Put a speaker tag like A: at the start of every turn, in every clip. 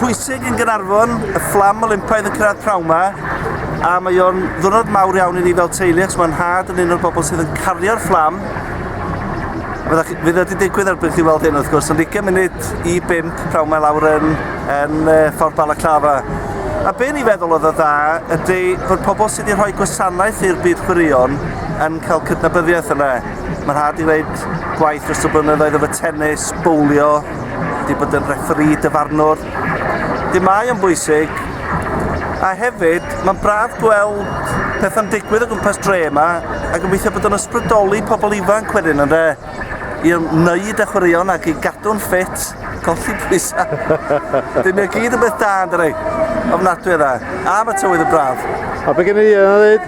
A: pwysig yn Gaernarfon, y fflam Olympaidd yn cyrraedd prawn ma, a mae o'n ddwrnod mawr iawn i ni fel teulu, ac mae'n had yn un o'r bobl sydd yn cario'r fflam. Fydd e wedi digwydd erbyn chi weld hyn, wrth gwrs, yn ugain munud i bimp prawn mae lawr yn, yn ffordd Balaclava. A be ni feddwl oedd y dda ydy fod pobl sydd wedi rhoi gwasanaeth i'r byd chwaraeon yn cael cydnabyddiaeth yna. Mae'n rhaid i wneud gwaith dros y blynyddoedd efo tennis, bowlio, wedi bod yn refferî dyfarnwr, dim mae o'n bwysig, a hefyd mae'n braf gweld pethau'n digwydd o gwmpas dre yma a gobeithio bod o'n ysbrydoli pobl ifanc wedyn yn dde i wneud a chwaraeon ac i gadw'n ffit, colli pwysau. Dim mae gyd yn beth da, yn dydi? Ofnadwy o dda. A mae tywydd yn braf. A be gen i yna
B: ddweud?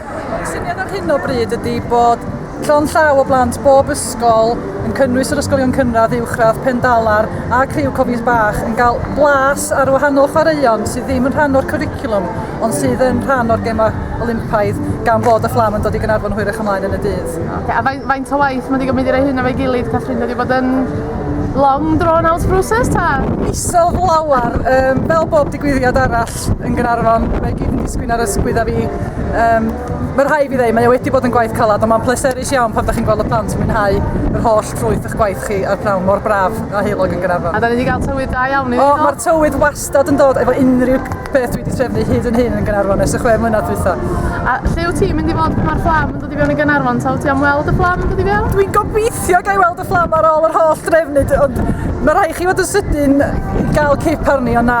C: Y
B: syniad ar hyn o
D: bryd ydy bod llond llaw o blant bob ysgol, yn cynnwys yr ysgolion cynradd, uwchradd, Pendalar a Criw Cofies Bach, yn cael blas ar wahanol chwaraeon sydd ddim yn rhan o'r cwricwlwm ond sydd yn rhan o'r Gemau Olympaidd gan fod y fflam yn dod i Gaernarfon hwyrach ymlaen yn y dydd. Okay, a faint, faint o
E: waith mae wedi gwneud i roi hyn efo'i gilydd, Catherine? Wedi bod yn long drawn out process ta? Isel flawar,
D: um, fel bob digwyddiad arall lot yn Gaernarfon, mae i gyd yn disgyn ar ysgwydd a fi. Um, mae rhai i fi ddweud, mae o wedi bod yn gwaith calad, ond mae'n pleserus iawn pan ydych chi'n gweld y plant yn mwynhau yr holl ffrwyth eich gwaith chi a'r prawn mor braf a heilog yn Gaernarfon. A da ni wedi cael tywydd da
E: iawn i fi. O, mae'r tywydd wastad
D: yn dod efo unrhyw beth dwi wedi trefnu hyd yn hyn yn Gaernarfon ers y chwe mlynedd dwytha. A lle wyt ti'n
E: mynd i fod pan mae'r fflam yn dod i fewn i Gaernarfon? Ta wyt ti am weld y fflam yn dod i fewn? Dwi'n gobeithio gael
D: weld y fflam ar ôl yr holl drefnu, ond mae rhai chi fod yn sydyn i gael cip arni, ond na,